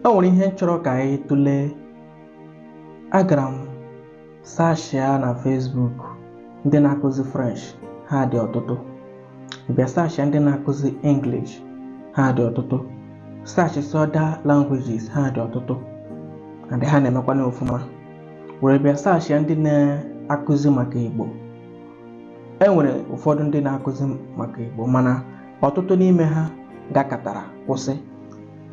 o nwere ihe m chọrọ ka anyị tụlee agara m sashia na Facebook ndị na-akụzi French ha dị ọtụtụ bịa sashia ndị na-akụzi English ha dị ọtụtụ sashia other languages ha dị ọtụtụ and ha na-emekwana ọfụma were bịa sashia ndị na-akụzi maka Igbo e nwere ụfọdụ ndị na-akụzi maka Igbo mana ọtụtụ n'ime ha gakatara kwụsị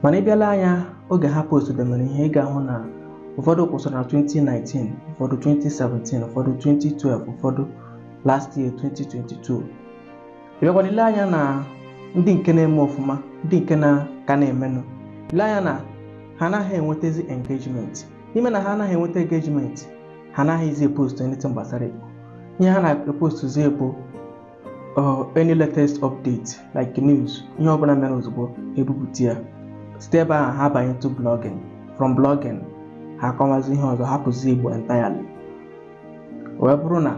mana ị bịa lee anya oge ha postdemere ihe ị ga-ahụ na ụfọdụ kwụsịrị na 2019 ụfọdụ 2017 ụfọdụ 2012 ụfọdụ last year 2022 ị bịakwana ile anya na ndị nke na-eme ọfụma ndị nke na ka na-emenụ ile anya na ha anaghị enwetazi engagement n'ime na ha anaghị enweta engagement ha anaghịzi epost anything gbasara Igbo ihe ha na-epostuzi bụ or any latest update like news ihe ọbụla mere ozugbo ebupụta ya site ebe ahụ ha banye to blogging from blogging ha akọmazi ihe ọzọ hapụzi igbo entirely wee bụrụ na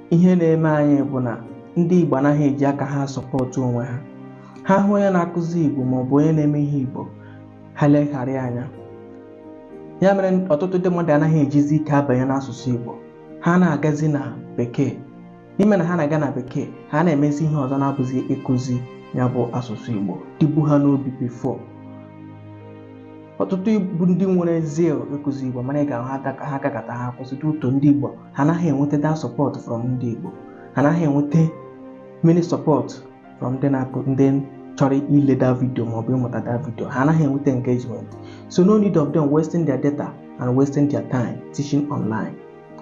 ihe na-eme anyị bụ na ndị igbo anaghị eji aka ha sọpọtụ onwe ha ha hụ onye na-akụzi igbo maọbụ onye na-eme ihe igbo ha leghara anya ya mere ọtụtụ ndị mmadụ anaghị ejizi ike abanye n'asụsụ igbo ha na-agazi na bekee n'ime na ha na-aga na bekee ha na-emezi ihe ọzọ na-abụzi ịkụzi ya bụ asụsụ Igbo dịbu ha n'obi before ọtụtụ bụ ndị nwere zeal ịkụzi Igbo mana ị ga-ahụ ha gakata ha kwụsị due to ndị Igbo ha anaghị enweta that support from ndị Igbo ha anaghị enweta many support from ndị na-akụ ndị chọrọ ile that video maọbụ ịmụta that video ha anaghị enweta engagement so no need of them wasting their data and wasting their time teaching online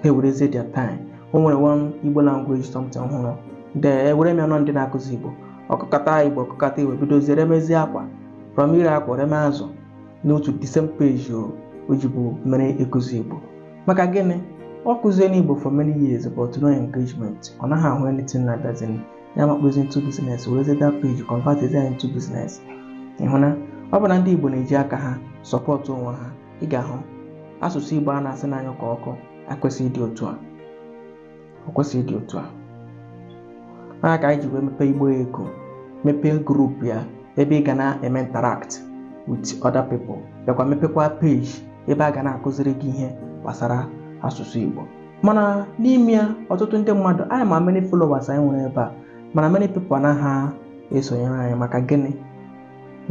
ha ewerezie their time o nwere one igbo language something m hụrụ then ewere m ya na ọ ndị na-akụzi igbo ọ kụkata igbo ọ kụkata igbo bidozie remezie akwa from ire akwa reme azụ n'otu the same page o o jibu mere ịkụzi igbo maka gịnị ọ kụziena igbo for many years but no engagement ọ naghị ahụ anything na that thing ya makpuzie into business werezie that page convert ya into business ị hụ na ọ bụ na ndị igbo na-eji aka ha sọpọtụ onwe ha ị ga-ahụ asụsụ Igbo a na-asị na-anyụ ka ọkụ ekwesịghị ịdị otu a o kwesịghị ịdị otu a ya ka anyị ji wee mepee Igbo Eko mepee group ya ebe ị ga na-eme interact with other people bịakwa mepekwa page ebe a ga na-akụziri gị ihe gbasara asụsụ Igbo mana n'ime ya ọtụtụ ndị mmadụ anyị ma many followers anyị nwere ebe a mana many people anaghị esonyere anyị maka gịnị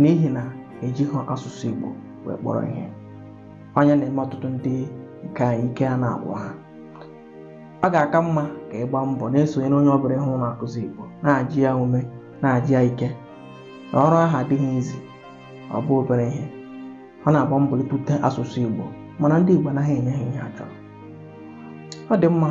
n'ihi na ejighị asụsụ Igbo wee kpọrọ ihe onye na-eme ọtụtụ ndị nke anyị ike ana-agwụ ha ọ ga-aka mma ka ị gbaa mbọ na-esonyere onye ọbụla ị hụ na-akụzi Igbo na-aja ya ume na-aja ya ike na ọrụ ahụ adịghị easy ọ bụ obere ihe ọ na-agba mbọ ịtụte asụsụ Igbo mana ndị Igbo anaghị enye ha ihe ha chọrọ ọ dị mma